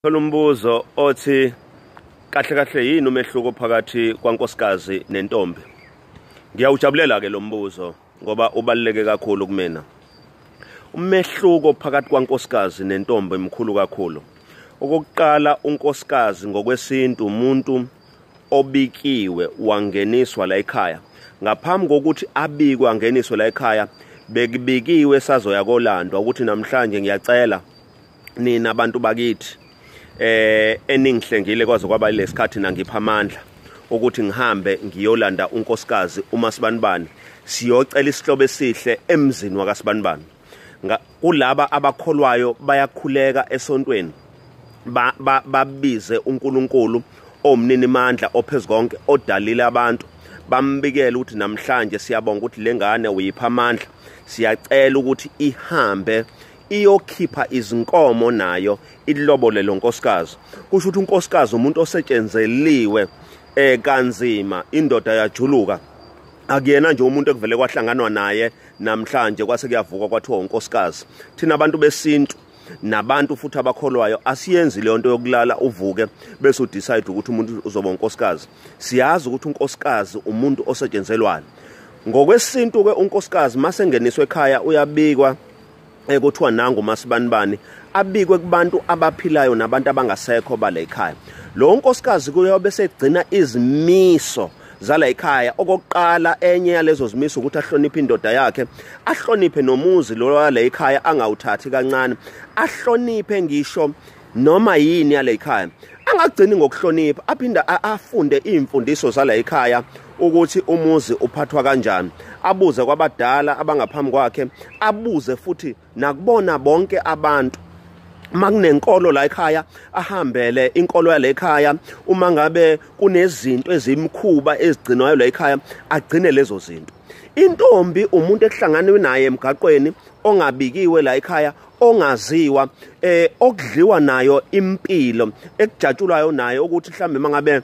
Khona umbuzo othi kahle kahle yini umehluko phakathi kwankosikazi nentombi? Ngiyawujabulela ke lo mbuzo ngoba ubaluleke kakhulu kumina. Umehluko phakathi kwankosikazi nentombi mkhulu kakhulu. Okokuqala unkosikazi ngokwesintu umuntu obikiwe wangeniswa la ekhaya. Ngaphambi kokuthi abikwe angeniswe la ekhaya bekubikiwe sazoya kolandwa ukuthi namhlanje ngiyacela nina abantu bakithi eh eningihlengile kwaze kwaba lesikhathi nangipha amandla ukuthi ngihambe ngiyolanda unkosikazi uma sibanibani siyocela isihlobo esihle emzini wakasibanibani kulaba abakholwayo bayakhuleka esontweni babize uNkulunkulu omnini mandla ophezukonke odalile abantu bambikela ukuthi namhlanje siyabonga ukuthi lengane uyipha amandla siyacela ukuthi ihambe iyokhipha izinkomo nayo ilobole lo nkosikazi kusho ukuthi unkosikazi umuntu osetshenzeliwe eh kanzima indoda yajuluka akuyena nje umuntu ekuvele kwahlanganwa naye namhlanje kwase kuyavuka kwathiwa unkosikazi thina abantu besintu nabantu futhi abakholwayo asiyenzi leyo nto yokulala uvuke bese udecide ukuthi umuntu uzoba unkosikazi siyazi ukuthi unkosikazi umuntu osetshenzelwayo ngokwesintu-ke unkosikazi masengeniswe ekhaya uyabikwa eh kuthiwa nangu masibanibani abikwe kubantu abaphilayo nabantu abangasekho bale ekhaya lo nkosikazi kuyobe segcina izimiso zala ekhaya okokuqala enye yalezo zimiso ukuthi ahloniphe indoda yakhe ahloniphe nomuzi lo wale ekhaya angawuthathi kancane ahloniphe ngisho noma yini yale ikhaya angagcini ngokuhlonipha aphinde afunde imfundiso zala ikhaya ukuthi umuzi uphathwa kanjani abuze kwabadala abangaphambi kwakhe abuze futhi nakubona bonke abantu makunenkolo la ekhaya ahambele inkolo yale ekhaya uma ngabe kunezinto ezimkhuba ezigcinwayo la ekhaya agcine lezo zinto intombi umuntu ekuhlanganwe naye emgaqweni ongabikiwe la ekhaya ongaziwa eh okudliwa nayo impilo ekujatshulwayo naye ukuthi mhlambe mangabe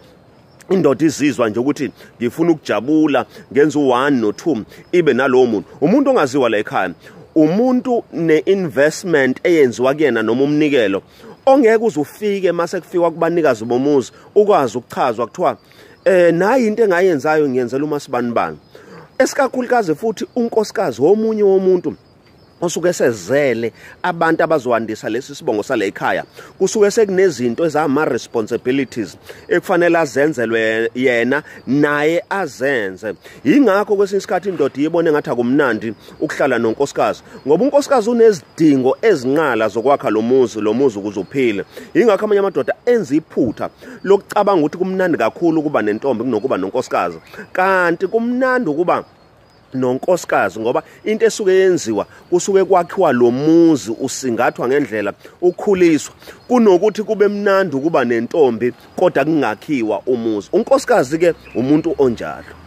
indoda izizwa nje ukuthi ngifuna ukujabula ngenza u1 no2 ibe nalowo muntu umuntu ongaziwa la ekhaya umuntu neinvestment eyenziwa kuyena noma umnikelo ongeke uzufike mase kufikwa kubanikazi bomuzi ukwazi ukuchazwa kuthiwa eh nayi into engayenzayo ngiyenzela uma sibanibani esikakhulukazi futhi unkosikazi womunye womuntu osuke sezele abantu abazoandisa lesi sibongo sale ekhaya kusuke sekunezinto ezama responsibilities ekufanele azenzelwe yena naye azenze ingakho kwesinye isikhathi indoda iyibone ngathi akumnandi ukuhlala nonkosikazi ngoba unkosikazi unezidingo ezinqala zokwakha lo muzi lo muzi ukuze uphile ingakho amanye amadoda enza iphutha lokucabanga ukuthi kumnandi kakhulu ukuba nentombi kunokuba nonkosikazi kanti kumnandi ukuba nonkosikazi ngoba into esuke yenziwa kusuke kwakhiwa lo muzi usingathwa ngendlela ukhuliswa kunokuthi kube mnandi ukuba nentombi kodwa kungakhiwa umuzi unkosikazi ke umuntu onjalo